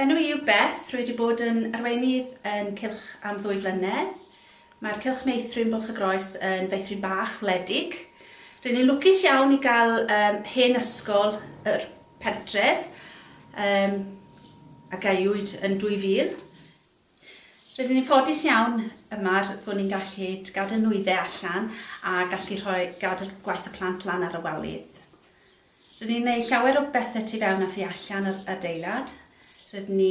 Enw i yw Beth, rwy wedi bod yn arweinydd yn Cylch am ddwy flynedd. Mae'r Cylch Meithrin Bwlch y Groes yn feithrin bach, wledig. Rŷn ni'n lwcus iawn i gael um, hen ysgol yr pentref um, a gaewyd yn 2000. Rydyn ni'n ffodus iawn yma fod ni'n gallu gadael nwyddau allan a gallu rhoi, gadael gwaith y plant lan ar y walydd. Rydyn ni'n gwneud llawer o bethau tu fewn a thu allan yr adeilad. Rydyn ni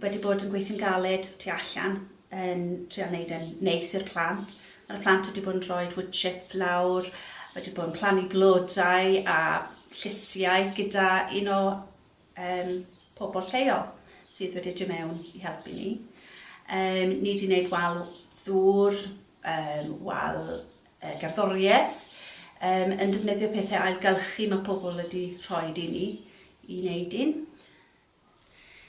wedi bod yn gweithio'n galed tu allan yn trio wneud e'n neis i'r plant. Mae'r plant wedi bod yn rhoi wood chip lawr, wedi bod yn plannu blodau a llysiau gyda un o yym pobl lleol sydd wedi dod mewn i helpu ni. Yym ni 'di wneud wal ddŵr, yym wal yy gerddoriaeth, yym yn defnyddio pethau ailgylchu mae pobl wedi rhoed i ni i wneud un.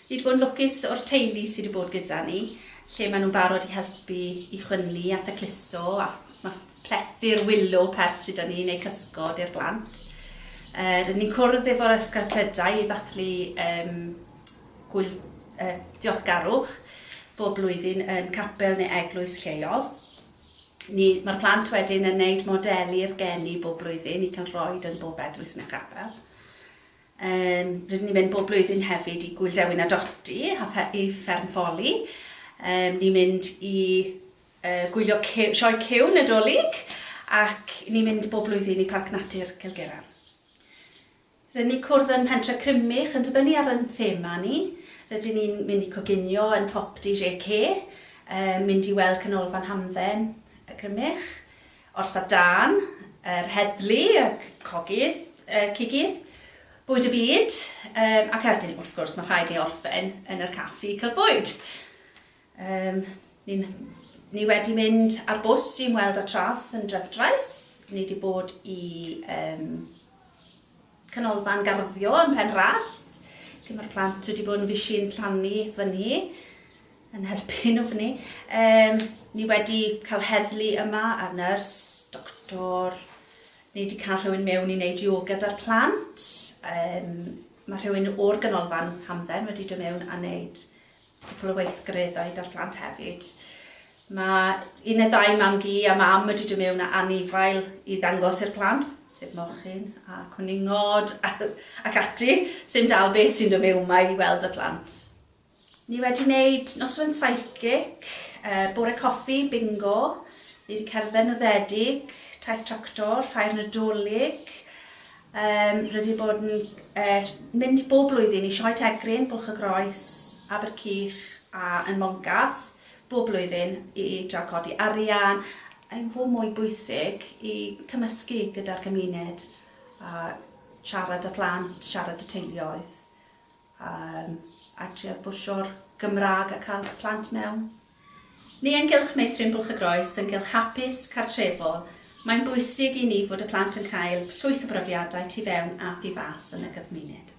Ni 'di bod yn lwcus o'r teulu sy' 'di bod gyda ni, lle maen nhw'n barod i helpu i chwynnu a thacluso a ma' plethu'r willow pert sy 'da ni, neu cysgod i'r blant. Uh, rydyn ni'n cwrdd efo'r ysgol clydau i ddathlu um, gwyl, uh, diolchgarwch bob blwyddyn yn capel neu eglwys lleol. Mae'r plant wedyn yn gwneud modeli'r geni bob blwyddyn i cael rhoi yn bob eglwys neu chapel. Um, rydyn ni'n mynd bob blwyddyn hefyd i Gwyl Dewin a Doti, i fferm ffoli. Um, ni'n mynd i Yy gwylio Cyw, sioe Cyw Nadolig ac ni'n mynd bob blwyddyn i Parc Natur Cilgera. Rydyn ni'n cwrdd yn Mhentre Crymych yn dibynnu ar yn thema ni, rydyn ni'n mynd i coginio yn Popty JK, yy mynd i weld Canolfan Hamdden y Crymych, Orsaf Dân, yr Heddlu, y Cogydd, yy Cigydd, Bwyd y Byd, yy ac a 'dyn wrth gwrs ma' rhaid ni orffen yn yr caffi i cael bwyd! Yym, ni, ni wedi mynd ar bws i ymweld â Trath yn Drefdraeth. Ni wedi bod i um, canolfan garddio yn Pen Rallt, lle mae'r plant wedi bod yn fysi'n plannu fyny, yn helpu nhw fyny. Um, ni wedi cael heddlu yma a nyrs, doctor, ni wedi cael rhywun mewn i wneud yoga da'r plant. Um, mae rhywun o'r ganolfan hamdden wedi dod mewn a wneud cwpl o weithgareddau 'da'r plant hefyd. Mae un neu ddau mam-gu a mam wedi dod mewn â anifail i ddangos i'r plant, sef mochyn a cwningod ac ati, sy'n dal beth sy'n dod mewn mae i weld y plant. Ni wedi wneud noswen psychic, uh, bore coffi, bingo, ni wedi cerdded noddedig, taith tractor, ffair nadolig, Yym, rydyn ni'n bod yn yy mynd bob blwyddyn i Sioe Tegrin, Bwlch y Groes, Abercych a yn Mongaf bob blwyddyn i drio codi arian i fo' mwy bwysig i cymysgu gyda'r gymuned a siarad â plant, siarad â teuluoedd. Yym, a trio pwsio'r Gymraeg a cael eich plant mewn. Ni ynghylch Meithrin Bwlch y Groes, ynghylch hapus, cartrefol, mae'n bwysig i ni fod y plant yn cael llwyth o brofiadau tu fewn a thu fas yn y gymuned.